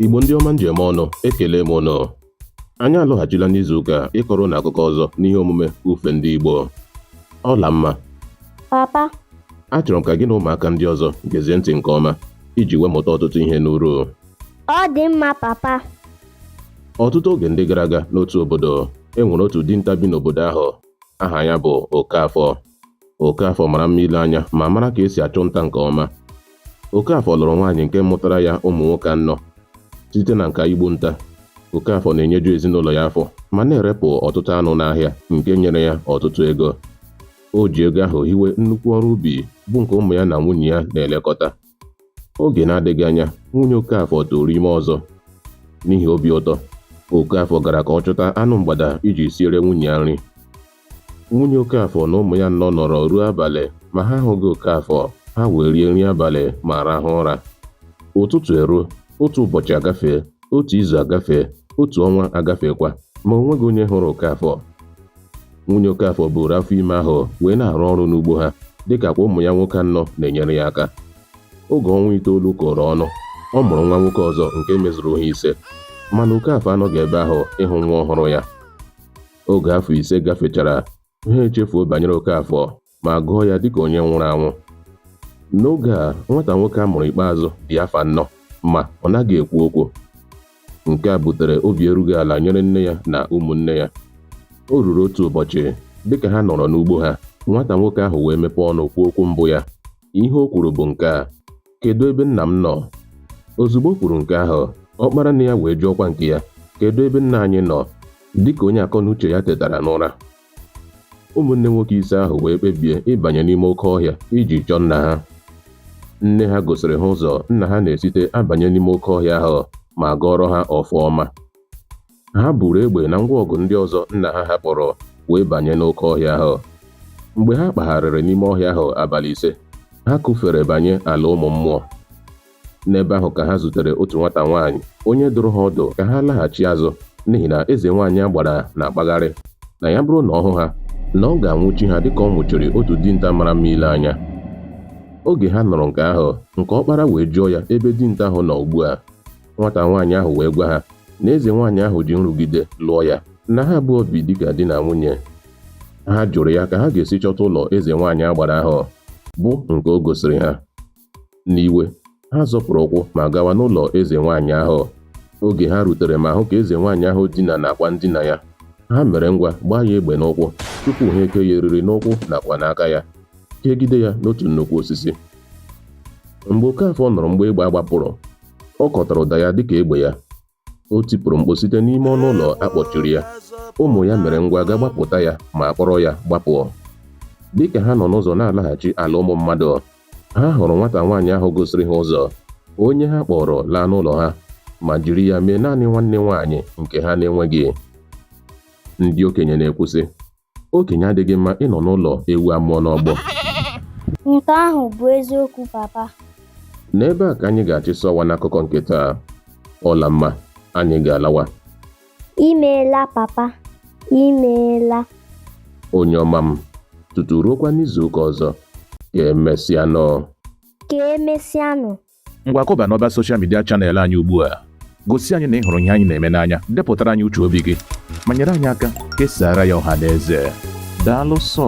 Igbo ndị ọma m ji eme ọnụ ekelee m ụnụ anyị alọghachila n'izuụka ịkọrọ ụnụ akụkọ ọzọ n'ihe omume ufe ndị Igbo Ọlamma papa achọrọ m ka gị na ụmụaka ndị ọzọ gezie ntị nke ọma iji wee mụta ọtụtụ ihe n'uru ọ dị mma papa ọtụtụ oge ndị gara aga n'otu obodo e nwere otu dinta bi n'obodo ahụ aha ya bụ Okafọ Okafọ mara mma ile anya ma mara ka esi achụ nta nke ọma. Okafọ lụrụ nwaanyị nke mụtara ya ụmụ nwoke anọ. Site na nka igbu nta, Okafọ na-enyeju ezinụlọ ya afọ ma na-erepụ ọtụtụ anụ n'ahịa nke nyere ya ọtụtụ ego. O ji ego ahụ hiwe nnukwu ọrụ ubi bụ nke ụmụ ya na nwunye ya na-elekọta. oge na-adịghị anya nwunye Okafọ tụrụ ime ọzọ n'ihi obi ụtọ Okafọ gara ka ọ chụta anụ mgbada iji siere nwunye ya nri nwunye Okafọ na ụmụ ya anọ nọrọ ruo abalị ma ha ahụghị Okafọ ha wee rie nri abalị ma rahụ ụra ụtụtụ eruo otu ụbọchị agafee otu izu agafee otu ọnwa agafeekwa ma o nweghị onye hụrụ Okafọ nwunye Okafọ buru afọ ime ahụ wee na-arụ ọrụ n'ugbo ha dịka kwa ụmụ ya nwoke anọ na-enyere ya aka oge ọnwa itoolu kụrụ ọnụ ọ mụrụ nwa nwoke ọzọ nke mezuru ha ise mana Okafọ anọghị ebe ahụ ịhụ nwa ọhụrụ ya oge afọ ise gafechara ha echefuo banyere Okafọ ma gụọ ya dịka onye nwụrụ anwụ. N'oge a, nwata nwoke a mụrụ ikpeazụ dị afọ anọ ma ọ naghị ekwu okwu. Nke a butere obi erughị ala nyere nne ya na ụmụnne ya. O ruru otu ụbọchị, dịka ha nọrọ n'ugbo ha, nwata nwoke ahụ wee mepee ọnụ kwuo okwu mbụ ya. Ihe o kwuru bụ nke a, Kedụ ebe nna m nọ? Ozugbo o kwuru nke ahụ, ọkpara nne ya wee jụọkwa nke ya, Kedụ ebe nna anyị nọ? Dịka onye akọnuche ya tetara n'ụra, Ụmụnne nwoke ise ahụ wee kpebie ịbanye n'ime oke ọhịa iji chọọ nna ha. Nne ha gosiri ha ụzọ nna ha na-esite abanye n'ime oke ọhịa ahụ ma gọọrọ ha ọfọ ọma. Ha buru egbe na ngwa ọgụ ndị ọzọ nna ha hapụrụ wee banye n'oke ọhịa ahụ. Mgbe ha kpagharịrị n'ime ọhịa ahụ abalị ise, ha kụfere banye ala ụmụ mmụọ. n'ebe ahụ ka ha zutere otu nwata nwaanyị onye dụrụ ha ọdụ ka ha laghachi azụ n'ihi na eze nwaanyị agbara na-akpagharị na ya bụrụ na ọ hụ ha na ọ ga-anwụchi ha dịka ọ nwụchiri otu dinta mara mma ile anya oge ha nụrụ nke ahụ nke ọkpara wee jụọ ya ebe dinta ahụ nọ ugbu a nwata nwaanyị ahụ wee gwa ha na eze nwaanyị ahụ ji nrụgide lụọ ya na ha abụọ bi dịka di na nwunye ha jụrụ ya ka ha ga-esi chọta ụlọ eze nwaanyị agbara ahụ bụ nke o gosiri ha n'iwe ha zọpụrụ ụkwụ ma gawa n'ụlọ eze nwaanyị ahụ oge ha rutere ma hụ ka eze nwaanyị ahụ dina n'akwa ndina ya ha mere ngwa gbaa ya egbe n'ụkwụ tupu ha eke ya eriri n'ụkwụ nakwa n'aka ya kegide ya n'otu nnukwu osisi mgbe Okafọ nụrụ mgbe egbe a gbapụrụ ọ kọtara ụda ya dịka egbe ya o tipụrụ mkpu site n'ime ọnụ ụlọ a kpọchiri ya ụmụ ya mere ngwa gaa gbapụta ya ma kpọrọ ya gbapụ dịka ha nọ n'ụzọ na-alaghachi ala ụmụ mmadụ ha hụrụ nwata nwaanyị ahụ gosiri ha ụzọ onye ha kpọrọ laa n'ụlọ ha ma jiri ya mee naanị nwanne nwaanyị nke ha na-enweghị ndị okenye na-ekwu sị Okenye adịghị mma ịnọ n'ụlọ ewu amụọ n'ọgbụ. Nke ahụ bụ eziokwu papa. N'ebe a ka anyị ga-achịsa ọwa n'akụkọ nke taa. Ọlamma, anyị ga-alawa. Imeela papa, imeela. Onye ọma m, tutu ruokwa n'izu ụka ọzọ, ka emesịanụ. Ka emesịanụ. Ngwa kụba n'ọba soshal midia chanel anyị ugbu a. Gosi anyị na ị hụrụ ihe anyị na-eme n'anya, depụtara anyị uche obi gị, ma nyere anyị aka kesaara ya ọha na eze. Daalụ sọ.